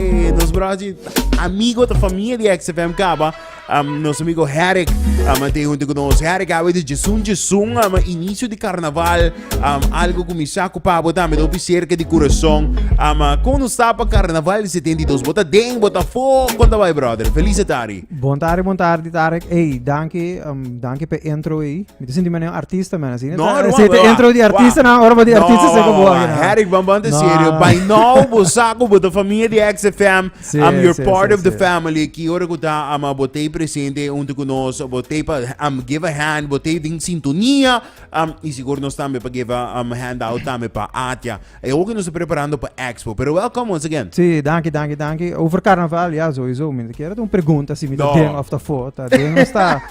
Eh, nos brochi amigo ta familia di XFM Caba, um, nos amigo Herrick, um, te junto con nos Herrick, awe de Jesun Jesun, um, inicio di carnaval, um, algo con mi saco pabo tambe, dopi cerca di corazón, um, uh, con nos tapa carnaval di 72, bota den, bota fo, conta vai brother, feliz tari. Bon tarde, bon tarde, Tarek. Hey, dankie, um, dankie pe intro aí. Mi ta sinti mene un artista, man. Así, no, no, se te intro di artista, na ora di artista se como aquí. Herrick, van van te serio. By now, bo saco, bo de familia di XFM. I'm your part of the family. Aquí, ora que ta, ama, bo te presente, un te conos, bo te pa, um, give a hand, bo te ding sintonia. Um, y seguro nos tambe pa give a um, hand out tambe pa Atia. E hopi nos ta preparando pa expo, pero welcome once again. Sí, danki, danki, danki. Over carnaval, ya, sowieso. Mi ta kere ta un pregunta si mi ta den of ta for. Ta den of ta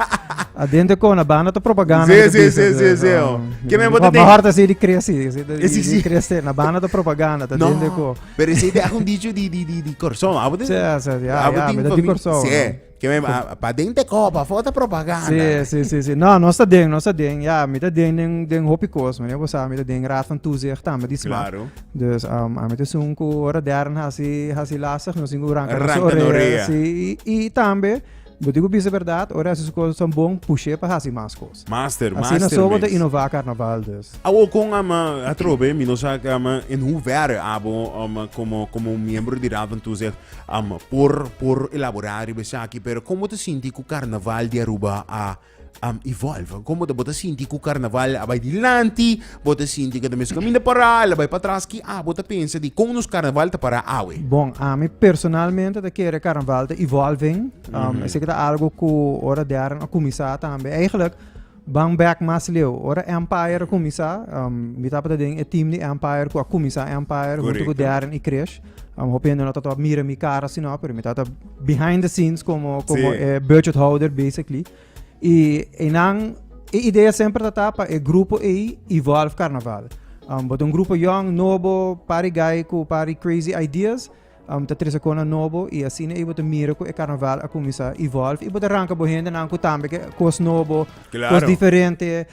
aden de kona banda ta propaganda. Sí, sí, sí, sí, sí. Ke men bota den. Mejor ta si di cresi. Sí, sí. Cresi, na banda ta propaganda, ta den de ko. Pero si te hago un dicho di, di, di, di corazón. Abo tin. Sí, sí, ya, ya. Mi ta di corazón. Sí. Ke me a pa den te kò, pa for ta propaganda. Sí, sí, sí, sí. No, nos ta den, nos ta den. Ya, mi ta den den, den hopi kos, meneer. Bo sa, mi ta den raad van toezicht tambe di smak. Klaro. Dus, um, a mi ta sun ku ora dèrn hasi, hasi lastig, nos tin ku ranka nos Ranka no orea. orea. Sí, i, i tambe, bo tin ku bisa bèrdat, ora hasi su kos esnan bon, push'é pa hasi mas kos. Master, Asina master sobo ta mes. inova carnaval dus. Awo con ama atrobe mi no sa ama en hoe ver abo um, como como un miembro di Raad van Toezicht um, por por elabora riba esaki pero como ta sinti cu carnaval di Aruba a um, evolve como ta bo ta sinti cu carnaval a bay dilanti Bo ta sinti ke ta mes kaminda pará, el a bai patras ki a bo ta pensa di kon nos karnaval ta pará awe? Bon, ami personalmente ta kere karnaval ta evolving. Esei ku ta algu ku ora Darren a kuminsá tambe. Eigenlijk ban bèk mas leu. Ora Empire a kuminsá, mi tabata den e tim di Empire ku a kuminsá Empire huntu ku Darren i Krish. Hopi hende no tabata mira mi kara asina, pero mi tabata behind the scenes komo e budget holder basically. Y einan e idea semper ta ta pa e grupo ei evolve carnaval. Um, bota un grupo young, nobo, pari guy cu pari crazy ideas, um, ta trece cona nobo y asina ei bota mira cu e carnaval a cuminsa evolve y bota ranca bo hende nan cu tambe ke cos nobo, cos Claro. diferente,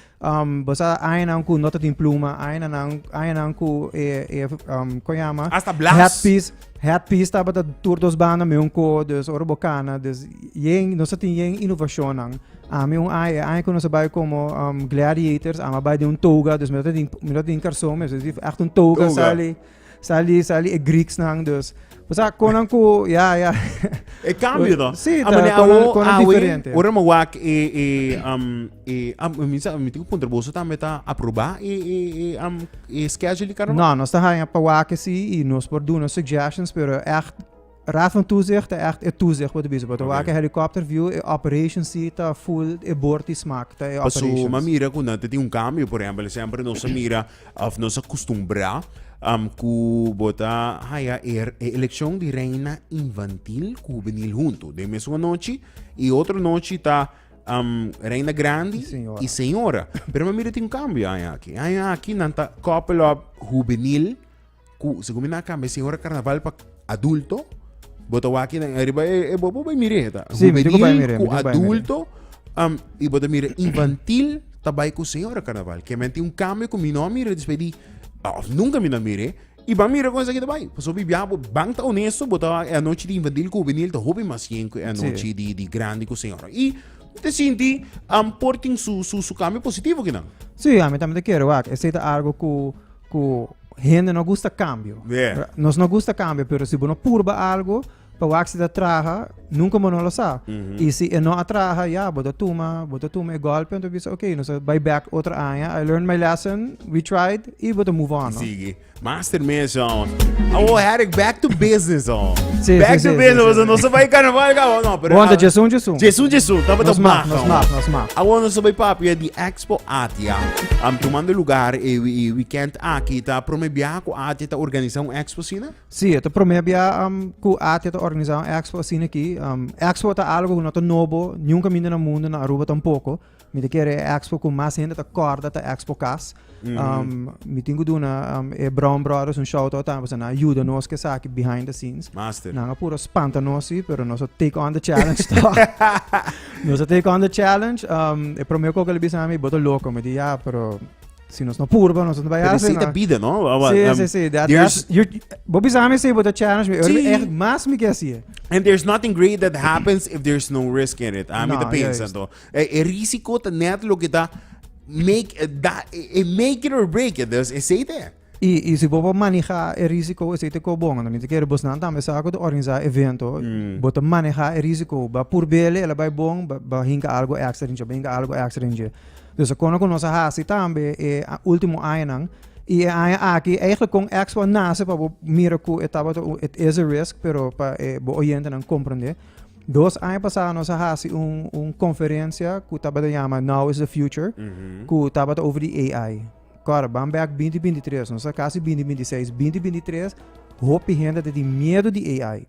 Bo sa añanan ku no ta tin pluma, añanan añanan ku e e um, kon yama Hasta blas. headpiece, headpiece tabata tur dos banda me un ko, dus ora bo kana, dus yen no sa tin yen innovacionnan. Ami un aña, e aña ku no sa bai como um, gladiators, ama bai den un toga, dus mi no tin mi no tin karson, mi so di echt un toga Toga. sali. Sali, sali e Greeks nan dus. O sea, konan ku, ya, ya. E cambio, no? Sí, a mane awo, konan diferente. Ora mo wak e, e, um, e, um, mi sa, mi tiku punter boso tambe ta aproba e, e, e, um, e schedule di carnaval? No, nos ta haya pa wak e si, y nos por duna suggestions, pero echt, Raad van Toezicht ta echt e toezicht por ta bisa, por ta wak e helicopter view, e operations si ta full e bord di smak, ta e Paso, operations. m'a mira cu nan ta tin un cambio. Por ehempel, semper nos a mira of nos a custumbrá am, cu bo ta haya e, e eleccion di reina infantil cu juvenil hunto den mesun anochi. Y otro nochi ta am, reina grandi Y señora. y señora. Pero m'a mira tin un cambio aña aki. Aña aki nan ta couple up juvenil. cu segun mi nan a cambia sin ora carnaval pa adulto bo ta wak kinan ariba e bo bo bay mire heta Sí, mi dico bay mire, mi cu dico bay mire. adulto um, y bo ta mira infantil ta bay cu sin ora carnaval que men tin un cambio cu mi no a mira después di ah, of nunca mi no a mire y ban mira con esaki ta bay pasobra mi bia bo ban ta honesto bo ta wak e anochi di infantil cu juvenil ta hopi mas bien cu e anochi di di grandi cu sin ora y mi ta sinti um por tin su su su cambio positivo kinan Sí, a mi tambe ta kere wak. Esei ta algo cu ku hende no gusta kambio. Yeah. Nos no gusta kambio, pero si bo no purba algo, pa wak si ta traha, nunka bo no lo sa. Mm -hmm. I si e no a traha, ya, bo ta tuma, bo ta tuma e golpe, entonces bisa, ok, nos bay back otro aña, I learned my lesson, we tried, i bo ta move on. No? Sige. Master Mesa, on. Oh, Eric, back to business, on. Sí, back sí, to sí, business, sí, sí. no se bay carnaval, no, pero... Wanda, Jason, Jason. Jason, Jason, tamo ta maak, nos maak, nos maak. Awon, nos bay papi, di ex Expo Atia. Tumando lugar e wikènt aki, ta promé bia ku Atia ta organisá un expo asina? Sí, e ta promé bia ku Atia ta organisá un expo asina aki. Expo ta algu ku no ta nobo nunka minda na mundu, na Aruba tampoko. Mi ta kere e expo ku mas hende ta kòrda ta Expo Kas. Mi tin ku duna e Brown Brothers un shout out tambe pasobra nan a yuda nos ku esaki behind the scenes. Nan a puru spanta nos sí, pero nos a take on the challenge tòg. Nos a take on the challenge. Um, e promé kok el bisa mi, boto loko. Mi di, ja, pero si nos no purba, nos no baya hacer. Pero bida, no? Sí, um, sí, sí. That, there's... That, you, bo bisa mi, sí, boto challenge. Mi, sí. echt mas mi que hacía. And there's nothing great that happens if there's no risk in it. A ah, mi no, te pensa, to. E, e risiko ta net lo que ta make, eh, da, e, eh, e eh, make it or break it. Dus, e sei te. I i si bo por maneha e risiko esei te kos bon anto mi ta kere bosnan tambe sa ku ta organisá evento bo ta maneha e risiko bo a purb'e el a bai bon ba hinka algu èkstra den dje ba hinka algu èkstra den dje dus kono ku nos a hasi tambe e ultimo añanan i e aña aki eigelik kon expo a nase pa bo mira ku e tabata un it is a risk pero pa e bo oyentenan komprende dos aña pasá nos a hasi un un konferensia ku tabata yama now is the future ku tabata over di AI. Kor, ban bek binti binti tres, nos a kasi binti binti seis, binti binti tres hopi hende ta tin miedu di AI.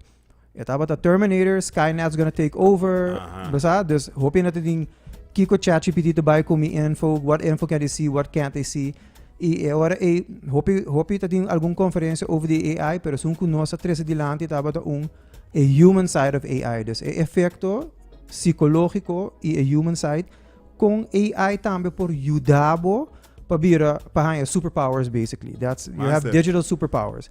E tabata Terminator, Skynet's gonna take over, Aha. lo sa? Dus hopi hende ta tin kiko ChatGPT ta bai ku mi info, what info can they see, what can't they see. I e ora ei hopi hopi ta tin algun konferensia over di AI, pero esun ku nos a trese dilanti tabata un e human side of AI. Dus e efekto psikologiko i e human side Kon AI tambe por yuda bo pa bira pa haya superpowers basically. That's you have digital superpowers.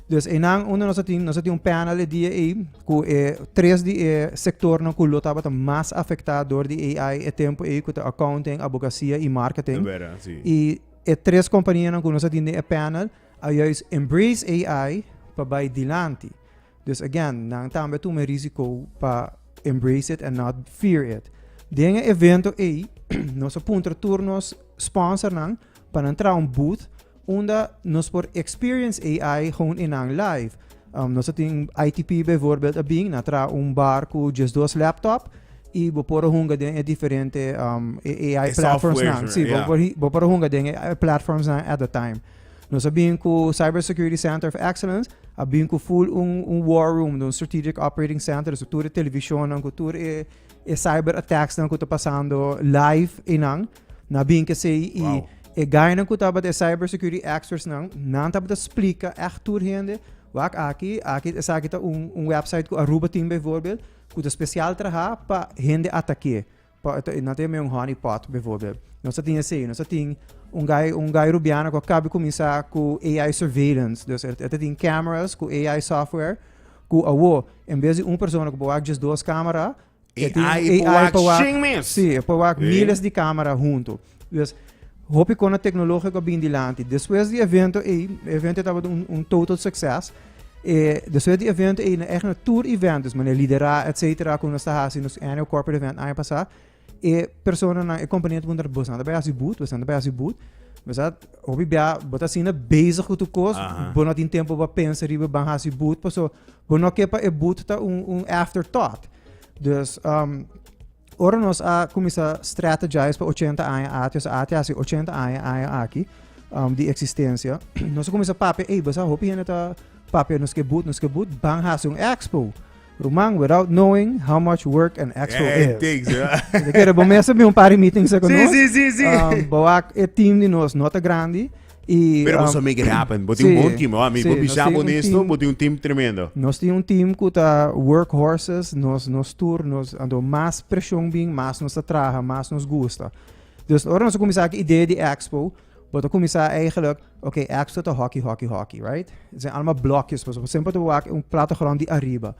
Dus enan uno nos tin nos tin un panel e dia ei ku e tres di e sektor no ku lo tabata mas afektá dor di AI e tempo ei ku ta accounting, abogasia i marketing. I e tres kompania nan ku nos tin den e panel a juis embrace AI pa bai dilanti. Dus again, nan tambe a tuma e risico pa embrace it and not fear it. Den e evento ei, nos a puntra tur nos sponsornan pa nan traha un booth unda nos por experience AI gewoon in nan live. Um, nos a tin ITP bijvoorbeeld a bin, na traha un bar ku just dos laptop i bo por hunga den e diferente um, e AI E platforms softwares, nan. Si, bo yeah. por hi- bo por hunga den e AI platforms nan at the time. Nos a bin cu Cyber Security Center of Excellence a bin cu full un un war room di un strategic operating center so tur e televisionnan cu tur e e cyber attacksnan cu ta pasando live einan nan a bin cu esey y Wow. e guynan cu tabata e cyber security expertsnan nan tabata splica echt tur hende wak aki aki esaki ta un un website cu Aruba tin bijvoorbeeld cu ta special traha pa hende attaque Pa e ta e un honey pot bevorbel nos ta tin esey nos ta tin un guy un guy rubiano cu a caba di cuminsa cu AI surveillance dus e ta tin cameras cu AI software cu awo en bes di un persona cu por wak just dos camera e tin AI por wak shing mes si e por wak miles di camera hunto Pues, hopi kona teknologiko a bin dilanti. Despues di evento ei, evento ei tabata un, un total succes. E despues di evento ei, na echt na tur event, dus mane lidera, et cetera, ku nos ta hasi nos annual corporate event aña pasá, e personanan, e kompania ta pregunta, bosnan ta bai hasi but? Bosnan ta bai hasi but? Besat, hopi bia, bo ta asina bezig ku tu kos, Aha. bo no tin tempu pa pensa riba ban hasi but, paso, bo no ke pa e but ta un, un afterthought. Dus, um, Ora nos a kuminsá strategize pa ochenta aña ater, nos a hasi ochenta aña aña aki di eksistensia, nos a kuminsá papia, ey basa hopi hende ta papia nos ke but, nos ke but ban hasi un expo. Ruman, without knowing how much work an expo Yeah, it is. takes, yeah. Te kere bo mester bin un par di meetings sa ku Sí, nos. sí, sí, sí. Um, bo wak e team di nos no ta grandi. Y, Pero bo um, sabi make it happen. Bo tin un sí, bon team. Oh, mi, sí, bo nos bisa tin bo un nesto, team- bo tin un team tremendo. Nos tin un team ku ta workhorses, nos nos tur, nos ando mas preshon bin, mas nos ta traha, mas nos gusta. Dus ora nos a kuminsá ku idee di expo, bo ta kuminsá eigenlijk, ok, expo ta hockey, hockey, hockey, right? Zijn allemaal blokjes, pues bo semper ta wak un plato grond di ariba.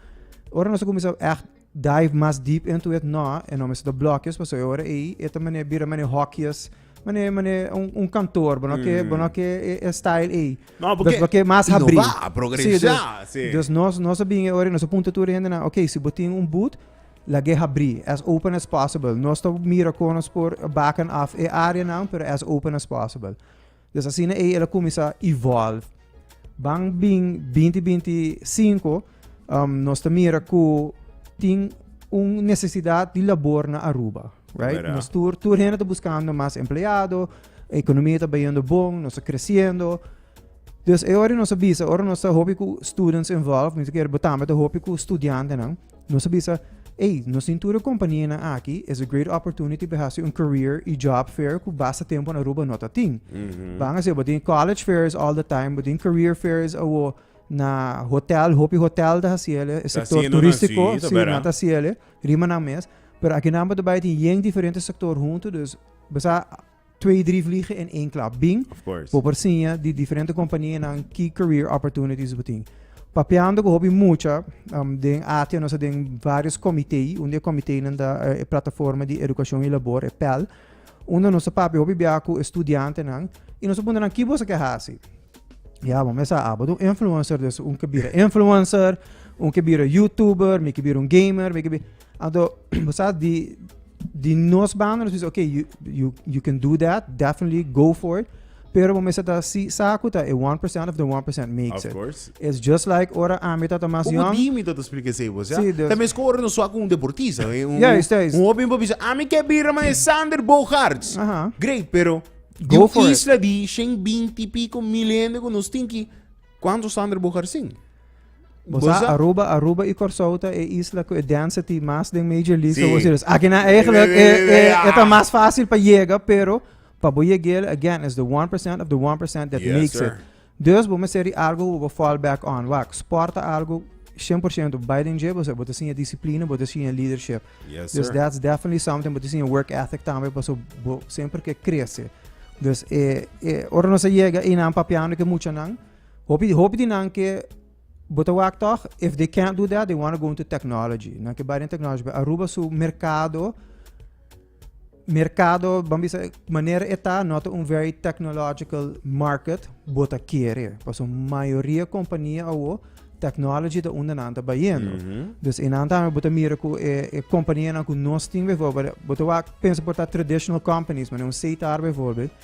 Ora nos a kuminsá echt Dive mas deep into it? No, e nomber sa ta blokjes paso e ora ei e ta mane bira mane hokjes, mane mane un kantoor bo no ke bo no ke e style ei. No porque bo ke mas habri. Innova, progresá, si. Dus nos nos a bini e ora ei nos a punta tur e hende nan, okay si bo tin un boot lag'e habri as open as possible. Nos ta mira kon nos por baken off e áreanan pero as open as possible. Des asina ei el a kuminsá evolve. Ban bin binti binti sinku um, nos ta mira ku tin un nesesidat di labor na Aruba. Right? Verdad. Nos tur, tur hende ta buskando mas empleado, ekonomia ta bayendo bon, nos ta kresiendo. Dus e ora nos a bisa, ora nos ta hopi ku students involved, mi ta kere bo tambe ta hopi ku studiantenan, Nos a bisa, Ey, nos tin tur e kompanianan aki, es a great opportunity pa e hasi un career i job fair ku basta tempu na Aruba no ta tin. Ban a si, bo tin college fairs all the time, bo tin career fairs awo na hotel, hopi hotel ta hasi el, e sector haciendo nan, turistiko, sí, ta sí, bera. nan ta hasi el, rimanan mes. Pero akinan bo ta bai tin yen diferente sector huntu, dus, besa, twee, drie vliegen in één klap. Bing, bo por siña di diferente kompanianan ki career opportunities bo tin. Papiando ku hopi mucha um, den Atia nos ta den vários komité. Un di e komiténan ta e Plataforma di Edukashon i Labor, e PEL, unda nos ta papia hopi biaha ku e studiantenan i nos ta punta nan kibo esaki a hasi. Ya, bo mester a abo ta un influencer, dus un ke bira influencer, un ke bira youtuber, mi ke bira un gamer, mi ke bira... Anto, bo sa di, di nos banda nos bisa, ok, you, you, you can do that, definitely go for it. Pero bo mesa ta si saku ta e 1% of the 1% makes Of it. course. It's just like ora ami ta ta mas Como young. dimi dat explica ese vos, ja? Sí, dus- También sco ora no suak un deportista, eh, un, Ja, is dat, is- un hopi pa bisa, ami ke bira man e Sander Bogaerts. Aha. Great, pero di Go un for it. isla di 120 pico mil hende cu nos tin ki Cuantos Sander bo garsin? Bo sa Aruba, Aruba i Corsou ta e isla cu e density mas den Major League. So bo Sí. serios. Aki na eigenlijk e, e, e ta mas fácil pa yega, pero pa bo yeg'el, again, is the 1% of the 1% that Yes, makes sir. it. Dus bo meseri algo cu bo fall back on. Wak, sport ta algo 100% bai den dje, bo sa, bo ta siña disciplina, bo ta siña leadership. Yes sir. Dus that's definitely something bo tin sin e work ethic tambe paso bo semper ke krese. Dus e e ora nos a yega i nan papiando ke muchanan hopi hopi di nan ke bo ta wak tog if they can't do that they wanna go into technology. Nan ke bai den technology aruba su merkado Merkado ban bisa manera e ta no ta un very technological market bo ta kere paso mayoria kompania awo technology ta unda nan ta bayendo mm -hmm. dus e nan tambe bo ta mira ku e, e kompanianan ku nos tin bijvoorbeeld bo ta wak pensa por ta traditional companies mane un seitar bijvoorbeeld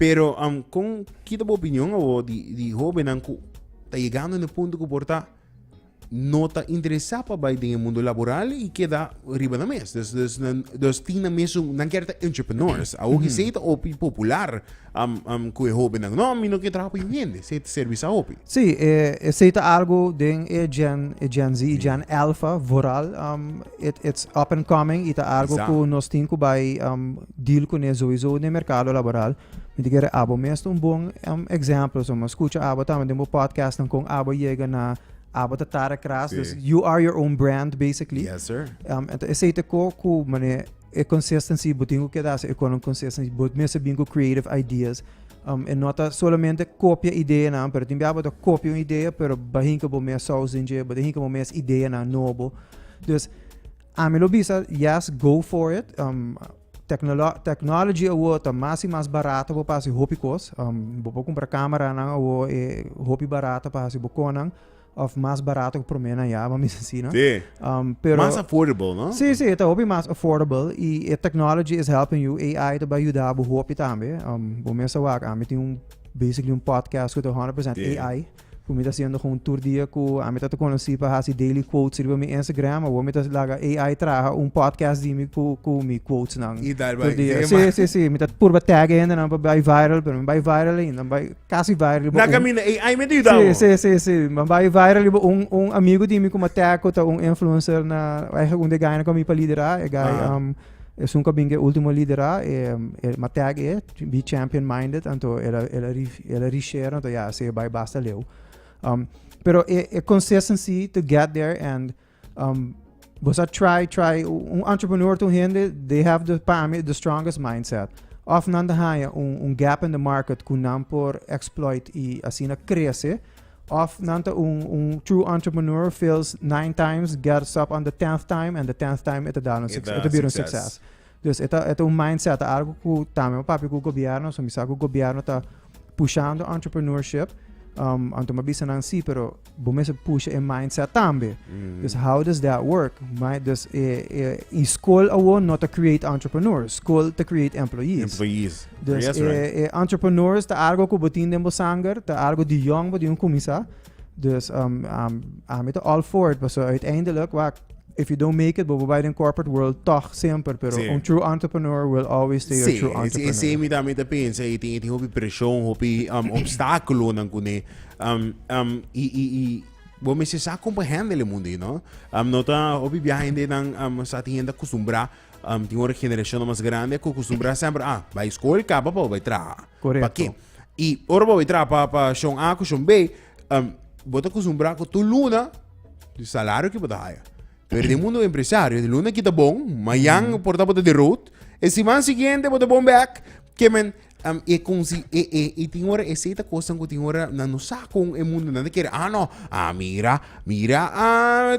Pero um, con ki ta bo opinion awor di, di hobennan cu ta yegando na e punto cu por ta no ta interesa pa bay den e mundo laboral y keda riba na mes. Dus, dus, nan, dus tin na mes un, nan ker ta entrepreneurs. Awor ki sei ta opi popular um, um, cu e hobennan. No, mi no ker traha pa yu hende, sei ta servisa hopi. Sí, e, esey ta algo den e Gen, e Gen Z y Gen Alpha vooral. Um, it, it's up and coming y ta algo cu Exact. nos tin cu bay um, Deal cu ne zoizo den mercado laboral. Mi ta kere abo mes ta un bon examplo so mi scucha abo tambe den bo podcastnan con abo yega na abo ta tara cras dus you are your own brand basically. Yes sir. Enton esey ta co cu mane e consistency bo tin cu keda haci economic consistency bo mes ta bin cu creative ideas e no ta solamente copia ideanan pero tin bia abo ta copia un idea pero ba hinca bo mes saus den dje bo ta hinca bo mes ideanan nobo dus. Ami lo bisa yes go for it um, tecnolo technology awor ta mas y mas barato pa pasi hopi cos um, bo por compra camera nan awor e hopi barato pa hasi bo conan of mas barato cu prome nan ya mami si no sí. um, pero mas affordable no sí sí ta hopi mas affordable y e technology is helping you AI ta ba ayuda bo hopi tambe um, bo mesa wak ami tin un basically un podcast cu ta 100% yeah. AI Ku mi ta siendo kon tur dia ku ami ta ta konosí pa hasi daily quotes riba mi Instagram, awo mi ta laga AI traha un podcast di mi ku ku mi quotesnan. I dal tur bai dia. dema. Sí, sí, sí. Mi ta purba tag e hendenan pa bai viral, pero mi bai viral ainda. Mi bai kasi viral riba Na un kaminda AI mi ta yuda Sí, bo. sí, sí, sí. Mi bai viral riba un un amigu di mi ku mi a tag ku ta un influencer na, aiga un di e gainan ku ami pa liderá, e gai Aha. um Esun ku a bin ku e ultimo liderá, e e matèk e, bi champion minded, anto el a el a ri el a rishare anto ya esei bai basta leu. Pero e e consistency to get there and bo sa try try un entrepreneur ta un hende they have the pa mi the strongest mindset. Of nan ta haña un un gap in the market ku nan por exploit i asina krese. Of nan ta un un true entrepreneur fails nine times, gets up on the tenth time and the tenth time e ta dal un E succes, e ta ta bira un succes. succes. Dus e ta e ta un mindset, algo ku tambe mi papia ku gobierno, so mi sa ku gobierno ta pushando entrepreneurship. Um anto mi a bisa nan si, pero bo mester pusha e mindset tambe. Dus how does that work? Mi- dus e e i skol awor no ta create entrepreneurs, skol ta create employees. Employees. Dus yes, e, right. e entrepreneurs ta algo ku botin den bo sanger, ta algo di jong bo di un kumisa. Dus um, um, a mi ta all for it, paso uiteindelijk, wak, if you don't make it, bobo bij den corporate world toch semper, pero sí. un true entrepreneur will always stay sí, a true entrepreneur. Sí, mi también te piensa, y tiene hopi presión, hopi um, obstáculo nan kune, um, um, y, y, y, bo me se sa comprehende le mundo, you know? Um, no ta hopi viaje de nan, um, sa tiene acostumbrado, Am tin ora generashonnan mas grandi a kostumbrá semper, ah, bai skol kaba pa bo bai traha. Korekto. Pakí? I ora bo bai traha pa, pa shon A ku shon B, am, bo ta kostumbrá ku tur luna e salario ku bo ta haya. Pero den mundu empresario, e luna kita bon, mayan por ta bo ta di rood, e siman siguiente bo ta bon bèk, ke men, am e kunsi e e i tin ora esei ta kosnan ku tin ora nan no sa kon e mundu nan ta kere a no a mira mira a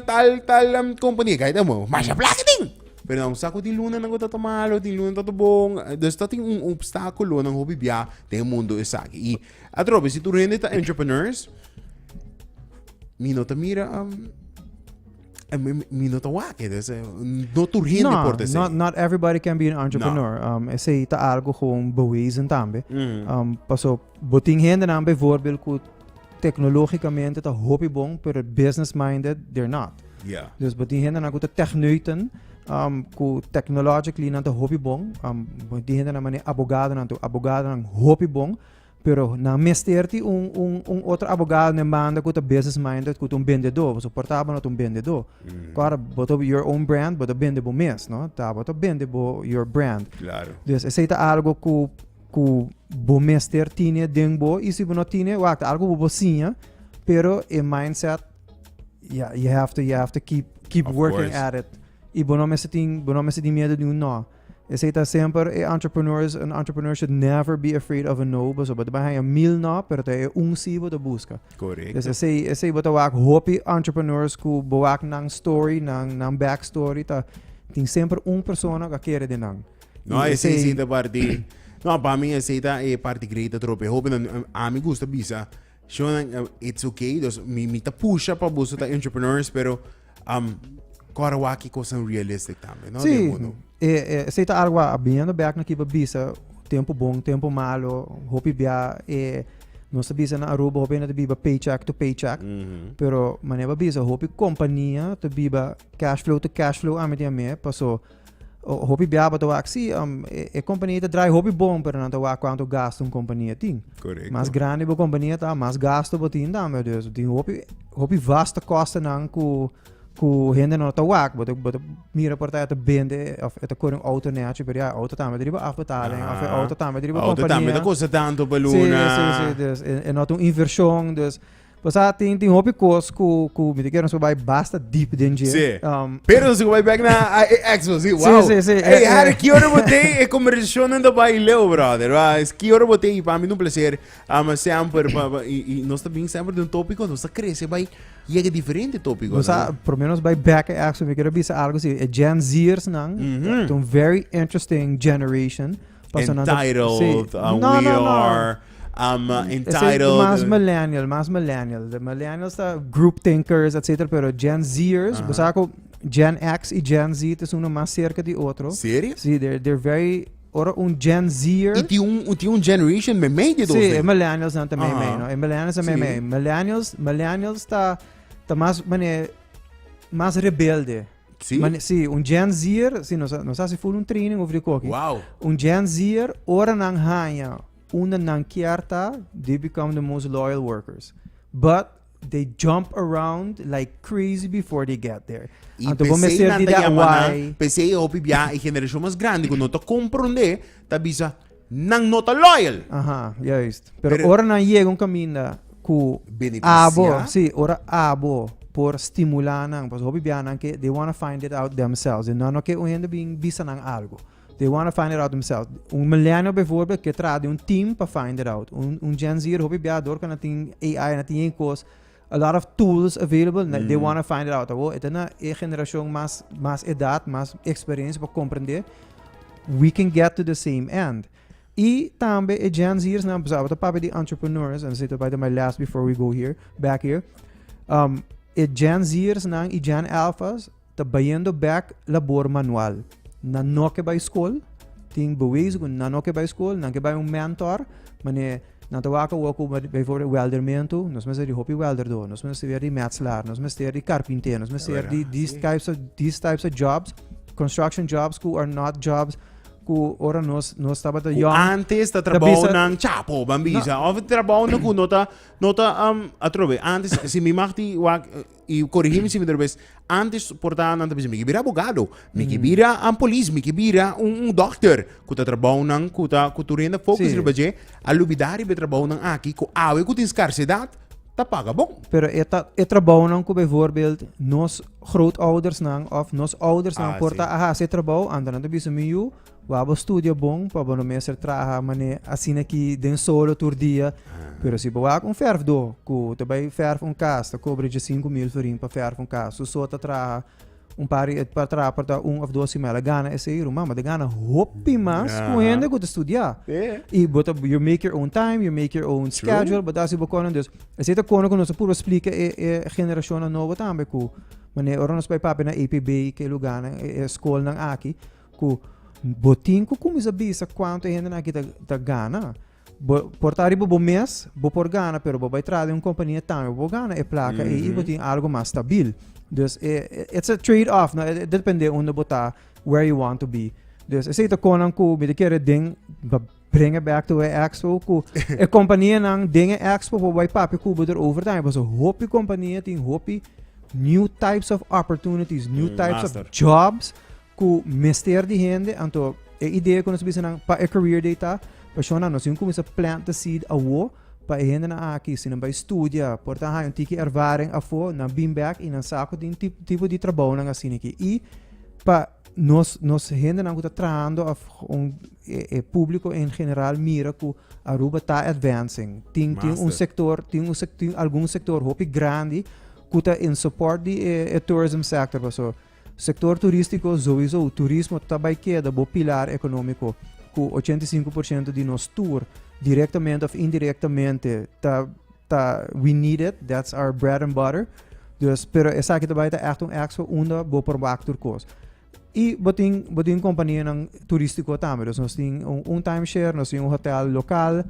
tal tal am kompania kai ta bo masha plaka tin pero nan sa ku tin lunanan ku ta ta malo tin lunan ta ta bon dus ta tin un opstakulonan hopi bia den e mundu esaki i atrobe si tur hende ta entrepreneurs mi no ta mira am. Eh, mi, mi- mi no ta wake, dus eh, no tur hende No, por te not, say. not everybody can be an entrepreneur. Um, ese ta algo gewoon bewezen tambe. Mhm. Um, paso, botin hende nan bijvoorbeeld ku tecnologicamente ta hopi bon, pero business minded, they're not. Ja. Dus botin hende nan ku ta techneuten, um, ku technologically nan ta hopi bon. Um, botin hende nan mane abogado nan tu, abogado nan hopi bon. Pero nan mester ti un, un, un otro abogado en banda ku ta business minded, ku ta un bendedor. Boso por taba no ta un bendedor. Mm. Kora, boto your own brand, boto bende bo mes, no? Ta boto bende bo your brand. Claro. Dus esei ta algo ku ku bo mester tine den bo i si bo no tine, wak, ta algo ku bo siña, pero e mindset, yeah, you have to, you have to keep, keep Of working course. at it. I bo no mester tin, bo no mester tin miedo di un no. Esei ta semper e entrepreneurs, un entrepreneur should never be afraid of a no, paso bo ta bay haya mil no, pero ta e un si bo ta busca. Correcto. Dus esei, esei bo ta wak hopi entrepreneurs ku bo wak nan story, nan, nan backstory, ta tin semper un persona ku a kere den nan. No, I esei esei- si ta parti. No, pa mi esei ta e parti great atrobe. Hopi nan, a mi gusta bisa Shonan, uh, it's okay. Dus mi, mi ta pusha pa buso ta entrepreneurs, pero um, kora waki kosan realistic tambe, no? Sí, e, e, se ta algo a biendo back na kiba bisa, tempo bon, tempo malo, hopi bia, e, no se bisa na Aruba, hopi na te biba paycheck to paycheck, mm -hmm. pero maneba bisa, hopi compañía te biba cash flow to cash flow, amitiame, paso, Hopi biaba ta wak si, um, e, e kompania ta draai hopi bon, pero nan ta wak kuantu gasto un kompania tin. Correcto. Mas grande bo kompania ta, mas gasto bo tin tambe. Dus tin hopi, hopi vaste kostenan ku, ku hende no ta wak. Bo ta, bo ta mira por ta, ta bende, of ta kore un auto neachi, pero ya, auto tambe driba afbetaling, of auto tambe driba kompania. Auto tambe ta kosta tanto pa luna. Si, si, si, dus, e, e not un inversion, dus, O sea, tin, tin hopi cos cu, cu mi te quiero nosotros bai basta deep den dje. Sí. Um, Pero nosotros bai back na a- e- Expo, sí, wow. sí, sí. Hey, Eh, Harry, eh. que hora boté e conversación en de baileo, brother? Wa, es que hora boté y para mí un placer. Ama sempre, pa, pa, y, y nos también sempre de un tópico, nos crece, bai, llega diferente tópico. o sea, por lo menos bai back en action. Mi quiero bisa algo si e Gen Zers nan. Mhm. It's a very interesting generation. Paso nan ta- Entitled, sí. uh, No, we no, no. are. I'm uh, entitled. Ese más millennial, más millennial. De millennials ta group thinkers, etc. Pero Gen Zers, uh -huh. Gen X y Gen Z es uno más cerca de otro. ¿Serio? Sí, they're, they're very ora un Gen Zer. E ti un, ti un generation me mei de dos. Sí, e millennials dan também mei, no? E millennials também sí. mei. Millennials, millennials tá tá mais mané mais rebelde. Sí. Mané, sí, un Gen Zer, sí, nós nós se full um training over de coque. Wow. Um Gen Zer ora nan hanya Unda nan kier ta, they become the most loyal workers. But they jump around like crazy before they get there. Y Anto bo me pesey ser nan di ta dat yama nan, why. pesey e hopi bia e generacion mas grandi cu no ta comprende, ta bisa, nan no ta loyal. Aha, juist. Pero, Pero- ora nan yega un caminda cu Beneficia. abo, si, ora abo por stimula nan, pasobra hopi bianan ke they wanna find it out themselves, e nan no ke un hende bin bisa nan algo. They wanna find it out themselves. Un millennial bijvoorbeeld ke traha di un team pa find it out. Un, un Gen Zer, hopi bia dor ka na tin AI, na tin yen kos. A lot of tools available, na- they Mm. wanna find it out. Awo, eta na e generashon mas, mas edat, mas experiencia pa komprendé. We can get to the same end. I tambe e Gen Zers nan, pasobra bo ta papia di entrepreneurs, and sito bai to my last before we go here, back here. Um, e Gen Zers nan i Gen Alphas, ta bayendo bek labor manual. Nan no ke bai skol, tin bewezen ku nan no ke bai skol, nan ke bai un mentor, mane nan ta wak awo ku bijvoorbeeld weldermentu, nos mester di hopi welderdor, nos mester di metselaar, nos mester di karpinter, nos mester di these types of these types of jobs, construction jobs ku are not jobs ku ora nos nos tabata Ku yòn. antes ta trabou bisa- nan chapo, ban bisa. Of trabou nan ku no ta, no ta, atrobe, antes, si mi mag di wak, Y corigi mi si mi ta ves, antes por ta nan ta bisa, mi ke bira abogado, mi ke bira an polis, mi ke bira un, un dokter, ku ta trabou nan, ku ta, ku tur hende fokus Sí. riba dje, a lubida riba e trabou nan aki, ku awe ku tin skarsidat, ta paga bon. Pero e, ta, e trabounan ku bijvoorbeeld nos grootoudersnan of nos oudersnan Ah, por sí. ta a hasi e trabou, anto nan ta bisa mi yu, Wou bo studia bon pa bo no mester traha mané asina aki den solo tur dia. Pero si bo wak un fèrfdó ku ta bai fèrf un kas, ta kobra dje sinku mil ferin pa fèrf un kas. Su so ta traha un par i ta traha pa ta un òf dos simana, el gana esei ruman, bo ta gana hopi mas ku hende ku ta studiá. I bo ta you make your own time, you make your own schedule, bo ta hasi bo kosnan. Dus, esei ta kono ku nos ta purba splika e e generashonnan nobo tambe ku mané ora nos bai papia na APB i ke lugánan, e e skolnan aki, ku bo tin ku kuminsa bisa kuantu e hendenan aki ta ta gana. Bo por ta riba bo mes, bo por gana, pero bo bai traha den un kompania tambe bo por gana e plaka ei i bo tin algu mas stabil. Dus e e it's a trade off, no? E depende unda bo ta, where you want to be. Dus esei ta konan ku mi ta kere den pa bring it back to e expo ku e kompanianan den e expo por bai papia ku bo derover tambe pasobra hopi kompania tin hopi new types of opportunities, new Mm, types of master. jobs cu mester di hende, anto e idea cu nos bisa nan pa e career day ta, Pasionan, nos tin cu cuminsa plant the seed awo, pa e hendenan aki, si nan bay studia, por ta haña un tiki ervaring afo, nan bin bek y nan sa cu tin ti tipo di trabounan asina aki. Y pa nos, nos hendenan cu ta trahando af, un, e, e publico en general mira cu Aruba ta advancing. Tin, tin un Master. sector, tin un sec, tin algun sector hopi grandi cu ta in support di e, e tourism sector, paso Sektor turístiko, Zoizo, turismo ta bai keda bo pilar ekonómiko, ku ochenta i sinku por siento di nos tur, direktamente òf indirektamente, ta ta we need it, that's our bread and butter. Dus, pero esaki ta bai ta ègt un expo unda bo por wak tur kos. I bo tin bo tin kompanianan turístiko tambe. Dus nos tin un un timeshare, nos tin un hotèl lokal,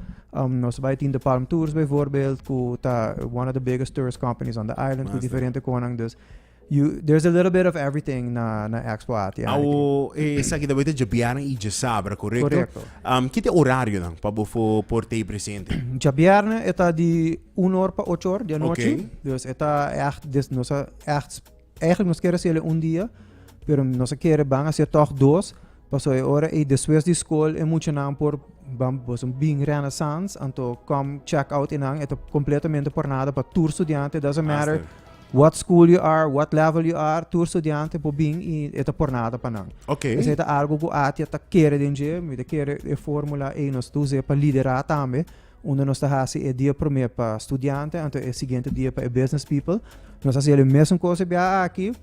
nos bai tin The Palm Tours bijvoorbeeld, ku ta one of the biggest tourist companies on the island, ku diferente konan. Dus You there's a little bit of everything na na expo ati. Awo esaki ta boita dje bierna i dje sabra, korekto? Korekto. Um, ki te orarionan pa bo fo por tei presente? Dja bierna e ta di un or pa ocho or di anochi. Oké. Dus e ta echt, dus nos a echt, eigenlijk nos kere hasiele un dia, pero nos a kere ban hasie tog dos, paso e ora ei despues di skol e muchanan por ban boso bin Renaissance, anto kom check out enan, e ta completamente por nada pa tur studiante, doesn't matter Master. what school you are, what level you are, tur studiante por bin y e ta pornada pa nan. Ok. Entonces e ta algo cu Atia ta kere den dje, mi ta kere e formula ey nos ta uze pa lidera tambe, unda nos ta haci e dia prome pa studiante anto e siguiente dia pa e business people. Nos haci el mesun cosa bia aki.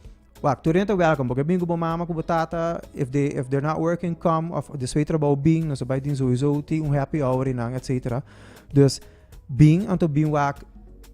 Wak, tur nen ta welcome, bo ke bin cu bo mama, cu bo tata, if they, if they're not working, come, of despues trabao bin, nos ta bay tin sowieso tin un happy hour y nan, etcetera. Dus, Bin, anto bin wak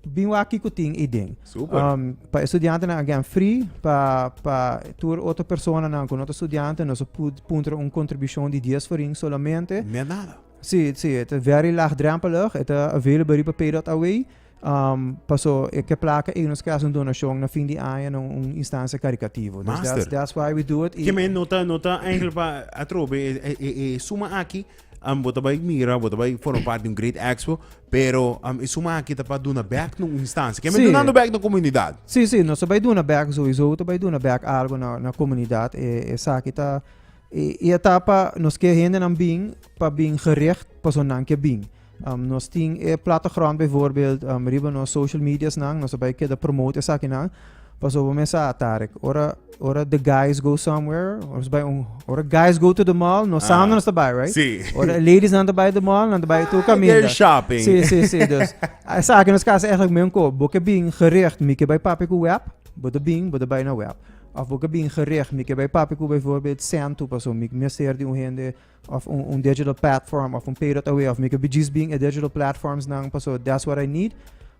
bin wak kiko tin ei den. Super. Um, pa estudiantenan again free, pa, pa tur otro personanan ku no ta estudiante, no se pud puntra un kontribusjon di 10 forin solamente. Meer nada. Sí, sí, het is very laagdrempelig. Het is available riba pay.away. Um, paso e ke plaka ei nos krijgen donation na fin di año na un instancia caricativo. Dus that's, Master. that's why we do it. I- Kime nota, nota eigenlijk pa atrobe e, e, e, e suma aki Am bo ta bai mira bo ta bai forma part di un great expo pero am e suma aki ta pa duna bek na un instancia kico mi Sí. dunando bek na comunidad Sí, sí, nos ta bai duna bek sowiso, ta bai duna bek algo na na komunidat. E esaki ta i i a ta pa nos ke hendenan bin pa bin gericht paso nan ke bin. Am nos tin e platochroant bijvoorbeeld am riba nos social mediasnan, nos ta bai keda promote esakinan, Pasobra mi a sa, Tarek, ora, ora the guys go somewhere, ora bai un, ora guys go to the mall, no saam no nos ta bai, right? Sí. Ora ladies nan ta bai the mall, nan ta bai tur kaminda. They're shopping. Sí, sí, sí. Dus, a sa ki nos kasa eigenlijk men ko, bo ke bin gericht, mi ke bai papia ku web, bo ta bin, bo ta bai na web. Of bo ke bin gericht, mi ke bai papia ku bijvoorbeeld Sentu, paso mi mester di un hende of un digital platform of un payroll away of mi ke bijis bin e digital platforms nan paso that's what I need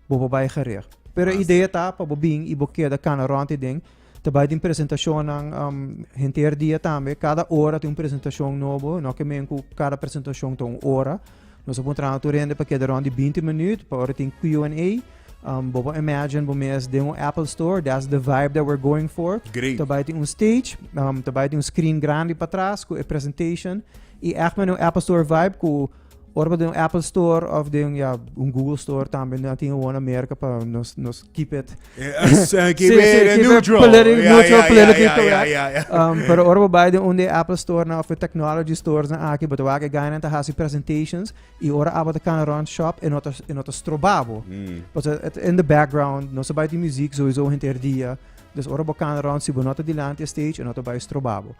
bo bo bai gericht. Pero e idea ta pa bo bin i bo keda kana rond e den ta bai den presentacionnan um, henter dia tambe cada ora tin un presentacion nobo no ke men ku cada presentacion ta un ora Nos a pon traha tur hende pa keda rond di binti minuut pa ora tin Q and A. Um, bo por imagine bo mes den un Apple store, that's the vibe that we're going for. Great. Ta bai tin un stage, um, ta bai tin un screen grandi pa tras ku e presentation. I echt men un Apple store vibe ku ora den un Apple store of den ja, un Google store tambe na tin gewoon Amerika pa nos, nos keep it Aki bere neutral. Politi- Ja, neutral, ja, ja, politically ja, ja, correct. ja, ja. Um, pero ora bo bai den un di Apple store nan of e technology stores nan aki, bo ta wak e gainan ta hasi presentations i ora abo ta kana rond shop e no ta e no ta stroba bo. Mm. Paso e ta in the background, no sa bai tin muziek sowieso henter dia. Dus ora bo kana rond si bo no ta dilanti e stage e no ta bai stroba bo.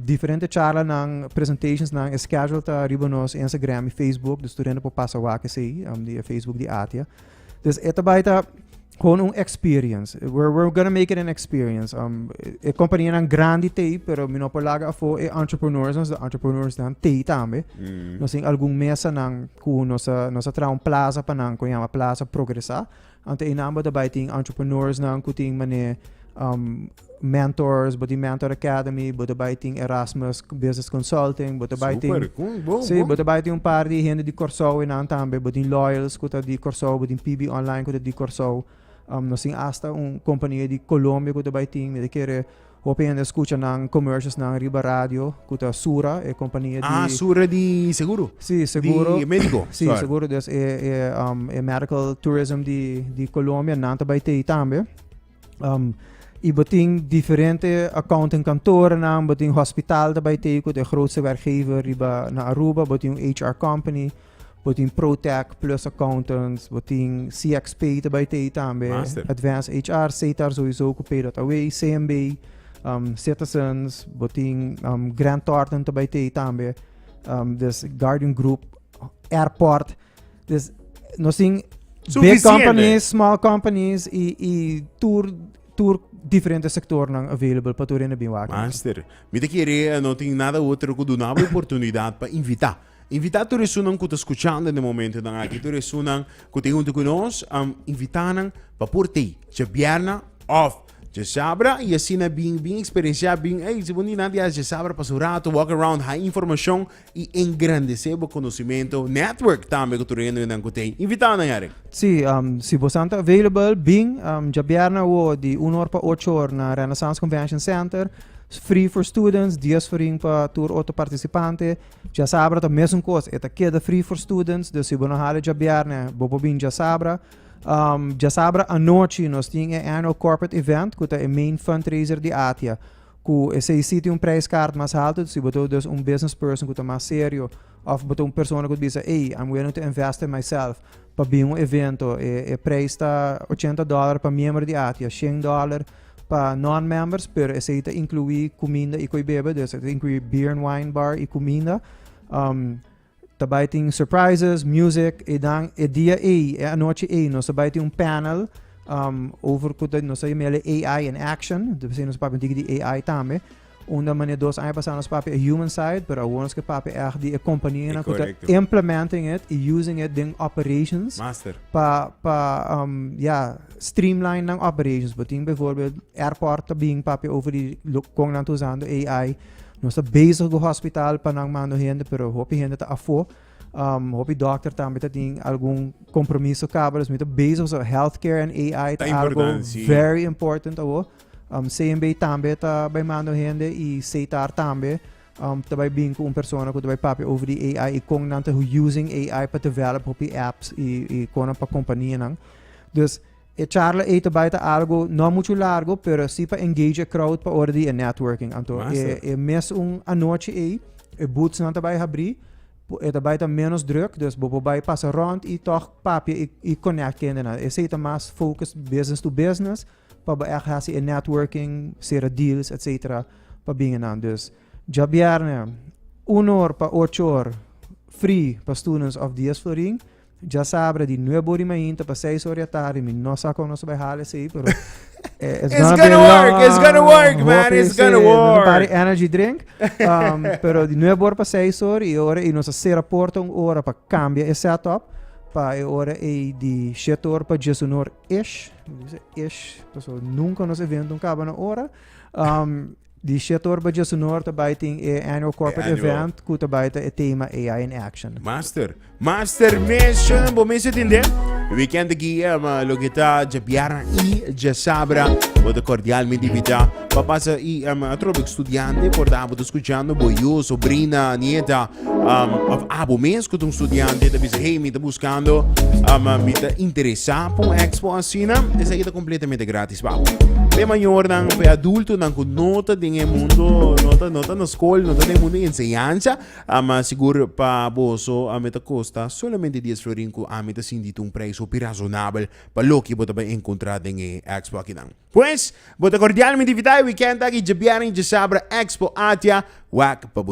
Diferente charlanan, presentationsnan, e schedule ta riba nos Instagram i Facebook, dus tur hende por pasa wak esei di e Facebook di Atia. Dus e ta bai ta gewoon un experience. We're, we're gonna make it an experience. Um, e compañíanan grandi tei, pero mi no por laga afo e entrepreneurs, nos de entrepreneurs dan tei tambe. Mm. Nos in algun mesa nan ku nos a, nos a traha un plaza pa nan ku llama plaza progresa. Ante e number ta bai tin entrepreneursnan ku tin manera um, mentors, bo tin Mentor Academy, bo ta bai tin Erasmus Business Consulting, bo ta bai tin... Super, cool, bon, Sí, bon. bo ta bai tin un par di hende di Corsou e nan tambe, bo tin Loyals ku ta di Corsou, bo tin PB Online ku ta di Corsou. Um, nos tin hasta un kompania di Colombia ku ta bai tin, mi ta kere Hopi hende scucha nan commercials nan riba radio cu ta Sura, e compania di. Ah, Sura di seguro? Si, seguro. Di medico? Si, seguro. Des e, e, um, e medical tourism di, di Colombia, nan ta bai tei tambe. Um, y batin diferente accounting kantoren nan, batin hospital ta bai tei cu ta e grootste werkgever riba na Aruba, batin un HR company, Bo tin ProTech plus accountants, bo tin CXP ta bai tei tambe, Master. Advanced HR, CETAR sowieso ku pay dat away, CMB, um, Citizens, bo tin um, Grant Thornton ta bai tei tambe, um, dus Guardian Group, Airport, dus nos tin big Suficiente. companies, small companies i, i tur, tur diferente sectornan available pa tur hende bin wak. Master, mi te kere eh, no tin nada otro ku dunabo oportunidad pa invita. Invitá tur esunnan ku ta skuchando den e momentunan aki, tur esunnan ku tin huntu ku nos. Invitá nan pa por t'ei djabièrna òf djasabra i asina bin bin eksperensiá bin, ey, si bo ni na diala djasabra pasa un ratu, wòk around, hai informashon i engrandesé bo konosementu, nètwòrk tambe ku tur e hendenan ku t'ei. Invitá nan yari. Sí, si bo esnan ta available, bin djabièrna awo di un or pa ocho or na Renaissance Convention Center. Free for students, dies forin pa tur otro partisipante. August. Djasabra ta mesun kos, e ta keda free for students, dus si bo no hala djabièrnè, bo por bini djasabra. Um, djasabra anochi nos tin e annual corporate event, ku ta e main fundraiser di Atia, ku esei sí tin un prijskaart mas haltu, si bo ta dus un business person ku ta mas serio, òf bo ta un persona ku ta bisa, ey, I'm willing to invest in myself pa bin un evento. E, e prijs ta ochenta dòler pa miembro di Atia, shen dòler Pa non-members, pero esei ta inkluí kuminda i koi bebe, dus e ta inkluí beer en wine bar i kuminda. Um, ta bai tin surprises, music, e dan e dia ei, e anochi ei, nos ta bai tin un panel um, over ku nos ta yamele AI in action, dus nos papia un tiki di AI tambe. Unda mane dos aña pasa nos papia e human side, pero awor nos ke papia echt di e kompania na kuta implementing it i using it den operations. Master. Pa, pa, um, ja, streamline nan operations. Bo ting bijvoorbeeld airport ta bing papia over di kon nan ta usando AI. Nos ta bezig go hospital pa nan mando hende, pero hopi hende ta afo. Um, hopi dokter tambe ta ting algun kompromiso kaba, dus mi ta bezig so healthcare en AI ta, ta algo very important awo. Um, CNB tambe ta bai manda un hende i CTAR tambe um, ta bai bin ku un persona ku ta bai papia over di AI i kon nan ta using AI pa develop hopi apps i, i konan pa kompania nan. Dus e charla ei ta bai ta algo no mucho largo, pero si pa engage e crowd pa ora di e networking. Anto e, Massa. e mes un anochi ei, e boots nan ta bai habri, po- e ta bai ta menos druk, dus bo por bai pasa rond i toch papia i, i connect kende nan. Esei ta mas focus business to business, pa bo ègt hasi e networking, sera deals etc. Pa bin enan. Dus dja bièrnè un or pa ocho or free pa students òf dies florin. Dja sabra di nuebe or di mainta pa seis or di atardi, mi no sa kon nos ta bai hala esei pero it's gonna be long. It's gonna work, it's gonna work man, Hopi it's gonna esei, nos a work. pari energy drink. Um, pero di nuebe or pa seis or i e ora ei nos a sera porta un ora pa kambia e setup pa e ora ei di shete or pa diesunu or. Ish, dice ish, paso nunca nos evento un caba na ora. Um, di Shetor Baja Sonor ta bai tin e annual corporate E annual. event ku ta bai ta e tema AI in action. Master, master mission, bo mensen tin de weekend aquí, eh, ma lo que está ya biara y ya sabra, bo te cordialmente invita, papasa y um, atrobe estudiante, por dabo te escuchando, bo yo, sobrina, nieta, Um, of abo mes cu un estudiante ta bisa, hey, mi ta buscando, um, mi ta interesa pa un expo asina, es aquí ta completamente gratis pa abo. Pe mayornan, pe adultonan cu no ta den e mundo, no ta, no ta na school, no ta den mundo enseñanza, um, sigur pa boso, um, ta costa solamente dies florin cu ami ta sinti ta un prijs hopi razonabel pa loke bo ta bay encontra den e expo akinan. Pues, bo ta cordialmente invita e weekend aki, dje biernen y dje sabra, Expo Atia, wak pa bo.